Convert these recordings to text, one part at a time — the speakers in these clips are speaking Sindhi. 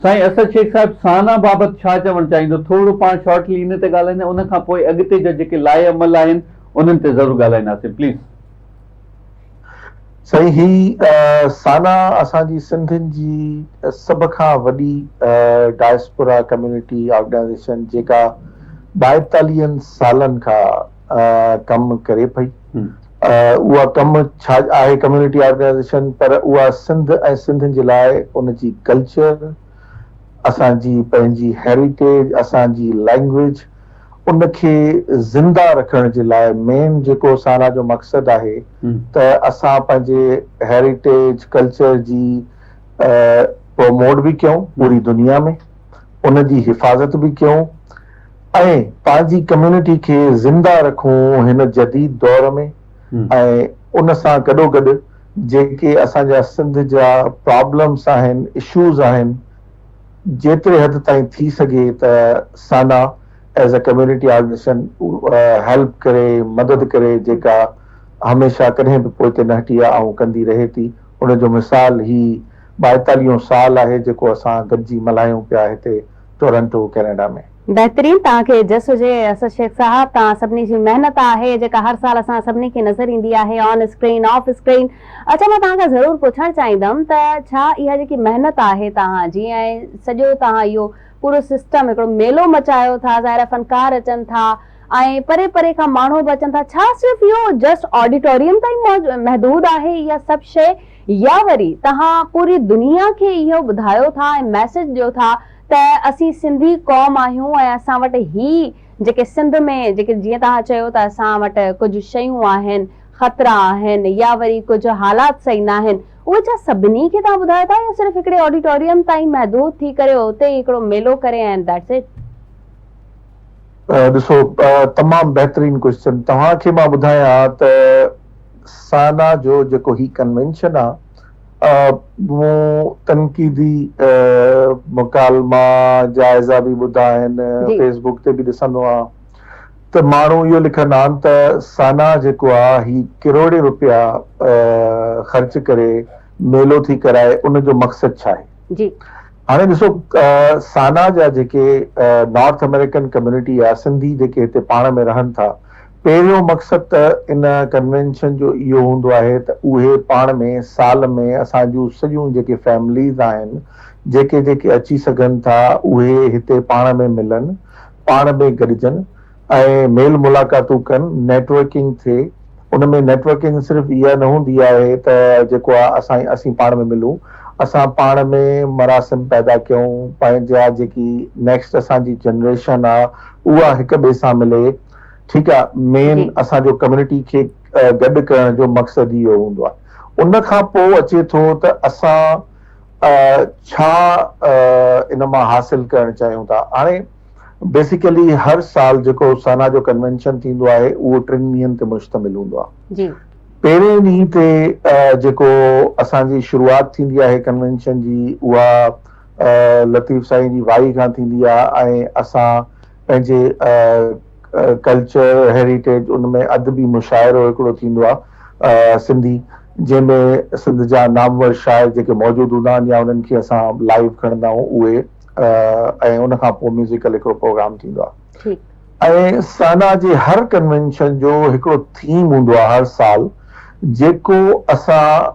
سائين اسد شيخ صاحب سانا بابت ڇا چوڻ چاهيندو ٿورڙو پاڻ شارٽلي ان تي ڳالهائيندا ان کان پوء اڳتي جا جيڪي لائحه عمل آهن انهن تي ضرور ڳالهائينداسين پليز. سائين هي سانا اسان جي سنڌين جي سڀ کان وڏي ڊائسپورا ڪميونٽي آرگنائيزيشن جيڪا ٻائيتاليهن سالن کان ڪم ڪري پئي. اها ڪم ڇا آهي ڪميونٽي آرگنائيزيشن پر اها سنڌ ۽ سنڌين جي لاء ان جي ڪلچر، اسان جي پنهنجي هيريٽيج، اسان جي لئنگويج ان کي زنده رکڻ جي لاء مين جيڪو سانا جو مقصد آهي ته اسان پنهنجي هيريٽيج ڪلچر جي پروموٽ به ڪيون پوري دنيا ۾. ان جي حفاظت به ڪيون ۽ پنهنجي ڪميونٽي کي زنده رکون هن جديد دور ۾ ۽ ان سان گڏوگڏ جيڪي اسان جا سنڌ جا پرابلمس آهن اشوز آهن جيتري حد تائين ٿي سگهي ته SANA as a community organisation help ڪري مدد ڪري جيڪا هميشه ڪڏهن به پوئتي نه هٽي آهي ۽ ڪندي رهي ٿي ان جو مثال هي ٻائيتاليهون سال آهي جيڪو اسان گڏجي ملهايون پيا هتي ٽورنٽو ڪينيڊا ۾. بهترين توهان کي جس هجي اسد شيخ صاحب توهان سڀني جي محنت آهي جيڪا هر سال اسان سڀني کي نظر ايندي آهي آن اسڪرين آف اسڪرين اڇا مان توهان کان ضرور پڇڻ چاهيندم ته ڇا اها جيڪي محنت آهي توهان جي ۽ سڄو توهان اهو پورو سسٽم هڪڙو ميلو مچايو ٿا ظاهر آهي فنڪار اچن ٿا ۽ پري پري کان ماڻهو به اچن ٿا، ڇا صرف اهو جسٽ آڊيٽوريم تائين محدود آهي اها سڀ شيء يا وري توهان پوري دنيا کي اهو ٻڌايو ٿا ۽ ميسيج ڏيو ٿا ته اسين سنڌي قوم آهيون ۽ اسان وٽ هي جيڪي سنڌ ۾ جيڪي جيئن توهان چيو ته اسان وٽ ڪجهه شيون آهن خطرا آهن يا وري ڪجهه حالات صحيح ناهن اهي ڇا سڀني کي توهان ٻڌايو ٿا يا صرف هڪڙي آڊيٽوريم تائين محدود ٿي ڪري اتي ئي هڪڙو ميلو ڪري ۽ ذيٽس اٽ. ڏسو تمام بهترين ڪوئسچن توهان کي مان ٻڌايان ها ته سانا جو جيڪو هي ڪنوينشن آ مون تنقيدي مڪالما جائزا به ٻڌا آهن فيس بوڪ تي به ڏسندو آهان ته ماڻهو اهو لکندا آهن ته سانا جيڪو آ هي ڪروڙين روپيا خرچ ڪري ميلو ٿي ڪرائي ان جو مقصد ڇا آهي هاڻي ڏسو سانا جا جيڪي نارٿ آمريڪن ڪميونٽي يا سنڌي جيڪي هتي پاڻ ۾ رهن ٿا پهريون مقصد ته ان ڪنوينشن جو اهو هوندو آهي ته اهي پاڻ ۾ سال ۾ اسان جون سڄيون جيڪي فيمليز آهن جيڪي جيڪي اچي سگهن ٿا اهي هتي پاڻ ۾ ملن پاڻ ۾ گڏجن ۽ ميل ملاقاتون ڪن، نيٽ ورڪنگ ٿئي، ان ۾ نيٽ ورڪنگ صرف اها نه هوندي آهي ته جيڪو آ اسان اسين پاڻ ۾ ملون، اسان پاڻ ۾ مراسم پيدا ڪيون، پنهنجا جيڪي نيڪسٽ اسان جي جنريشن آ اها هڪ ٻئي سان ملي، ٺيڪ آ، مين جي. اسان جو ڪميونٽي کي گڏ ڪرڻ جو مقصد ئي اهو هوندو آ، ان کان پوء اچي ٿو ته اسان ڇا ان مان حاصل ڪرڻ چاهيون ٿا، هاڻي. بيسيڪلي هر سال جيڪو سانا جو ڪنوينشن ٿيندو آهي اهو ٽن ڏينهن تي مشتمل هوندو آهي. پهرين ڏينهن تي جيڪو اسان جي شروعات ٿيندي آهي ڪنوينشن جي اها لطيف سائين جي وائي کان ٿيندي آهي ۽ اسان پنهنجي ڪلچر هيريٽيج ان ۾ ادبي مشاعرو هڪڙو ٿيندو آهي سنڌي جنهن ۾ سنڌ جا نامور شاعر جيڪي موجود هوندا آهن يا انهن کي اسان لائيو کڻندا آهيون اهي ۽ ان کان پوء ميوزيڪل هڪڙو پروگرام ٿيندو آهي ۽ سانا جي هر ڪنوينشن جو هڪڙو ٿيم هوندو آهي هر سال جيڪو اسان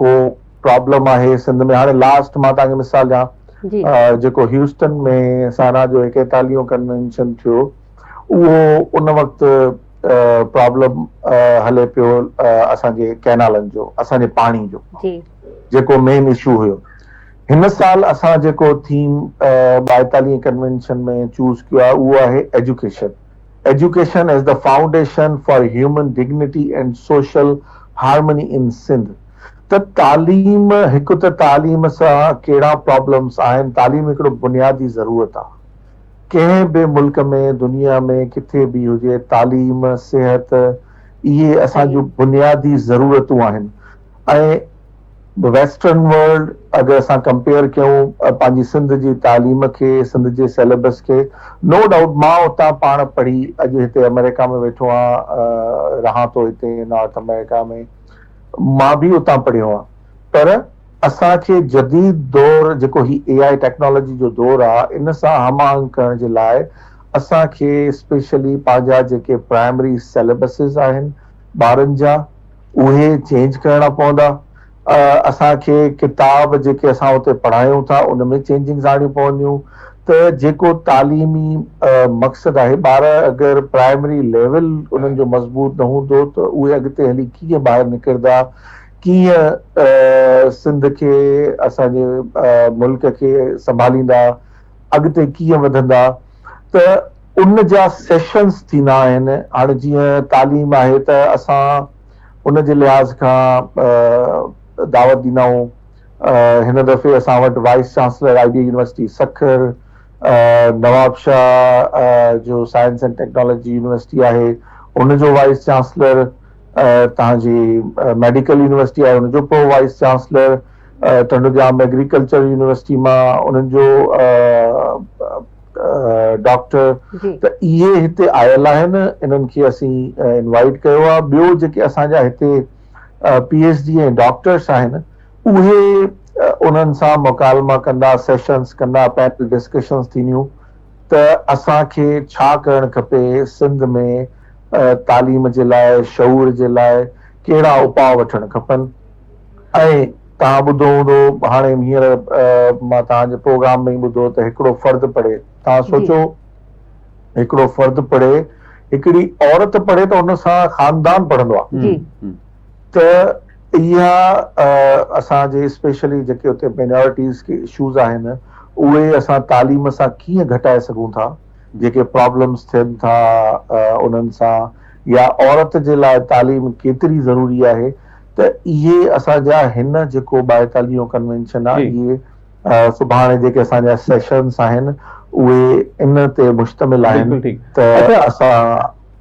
ڪو پرابلم آهي سنڌ ۾ هاڻي لاسٽ مان تان کي مثال ڏيان جيڪو هيوسٽن ۾ سانا جو ايڪيتاليهون ڪنوينشن ٿيو اهو ان وقت پرابلم هلي پيو اسان جي ڪينالن جو اسان جي پاڻي جو جيڪو مين اشو هيو هن سال اسان جيڪو ٿيم ٻائيتاليهين ڪنوينشن ۾ چوز ڪيو آهي اهو آهي education, education as the foundation for human dignity and social harmony in Sindh ته تعليم هڪ ته تعليم سان ڪهڙا پرابلمس آهن، تعليم هڪڙو بنيادي ضرورت آهي ڪنهن به ملڪ ۾ دنيا ۾ ڪٿي به هجي تعليم صحت اهي اسان جون بنيادي ضرورتون آهن ائين به ويسٽرن ورلڊ اگر اسان ڪمپيئر ڪيون پنهنجي سنڌ جي تعليم کي سنڌ جي سيليبس کي نو ڊائوٽ مان اتان پاڻ پڙهي اڄ هتي آمريڪا ۾ ويٺو آهيان رهان ٿو هتي نارٿ آمريڪا ۾ مان به اتان پڙهيو آهيان پر اسان کي جديد دور جيڪو هي اي آء ٽيڪنالاجي جو دور آهي ان سان هم آهنگ ڪرڻ جي لاء اسان کي اسپيشلي پنهنجا جيڪي پرائمري سيليبسز آهن ٻارن جا اهي چينج ڪرڻا پوندا. اسان کي ڪتاب جيڪي اسان اتي پڙهايون ٿا ان ۾ چينجنگز آڻيون پونديون ته جيڪو تعليمي مقصد آهي ٻار اگر پرائمري ليول انهن جو مضبوط نه هوندو ته اهي اڳتي هلي ڪيئن ٻاهر نڪردا ڪيئن سنڌ کي اسان جي ملڪ کي سنڀاليندا اڳتي ڪيئن وڌندا ته ان جا سيشنز ٿيندا آهن هاڻي جيئن تعليم آهي ته اسان ان جي لحاظ کان دعوت ڏيندا آهيون هن دفعي اسان وٽ vice chancellor I D university Sukkur Nawabshah جو سائنس اينڊ ٽيڪنالاجي يونيورسٽي آهي ان جو وائيس چانسلر تهان جي ميڊيڪل يونيورسٽي آهي ان جو pro vice chancellor Tando Jam agriculture university مان انهن جو ڊاڪٽر ته اهي هتي آيل آهن انهن کي اسين انوائيٽ ڪيو آهي ٻيو جيڪي اسان جا هتي پي ايڇ ڊي ۽ ڊاڪٽرس آهن اهي انهن سان مڪالما ڪندا سيشنس ڪندا پينل ڊسڪشنس ٿينديون ته اسان کي ڇا ڪرڻ کپي سنڌ ۾ تعليم جي لاء شعور جي لاء ڪهڙا اپاء وٺڻ کپن ۽ توهان ٻڌو هوندو هاڻي هينئر مان توهان جي پروگرام ۾ ئي ٻڌو ته هڪڙو فرد پڙهي توهان جي سوچو هڪڙو فرد پڙهي هڪڙي عورت پڙهي ته ان سان خاندان پڙهندو آ جي ته اها اسان جي اسپيشلي جيڪي اتي مينارٽيز کي اشوز آهن اهي اسان تعليم سان ڪيئن گهٽائي سگهون ٿا جيڪي پرابلمز ٿين ٿا انهن سان يا عورت جي لاء تعليم ڪيتري ضروري آهي ته اهي اسان جا هن جيڪو ٻائيتاليهون ڪنوينشن آ اهي سڀاڻي جيڪي اسان جا سيشنس آهن اهي ان تي مشتمل آهن ته اسان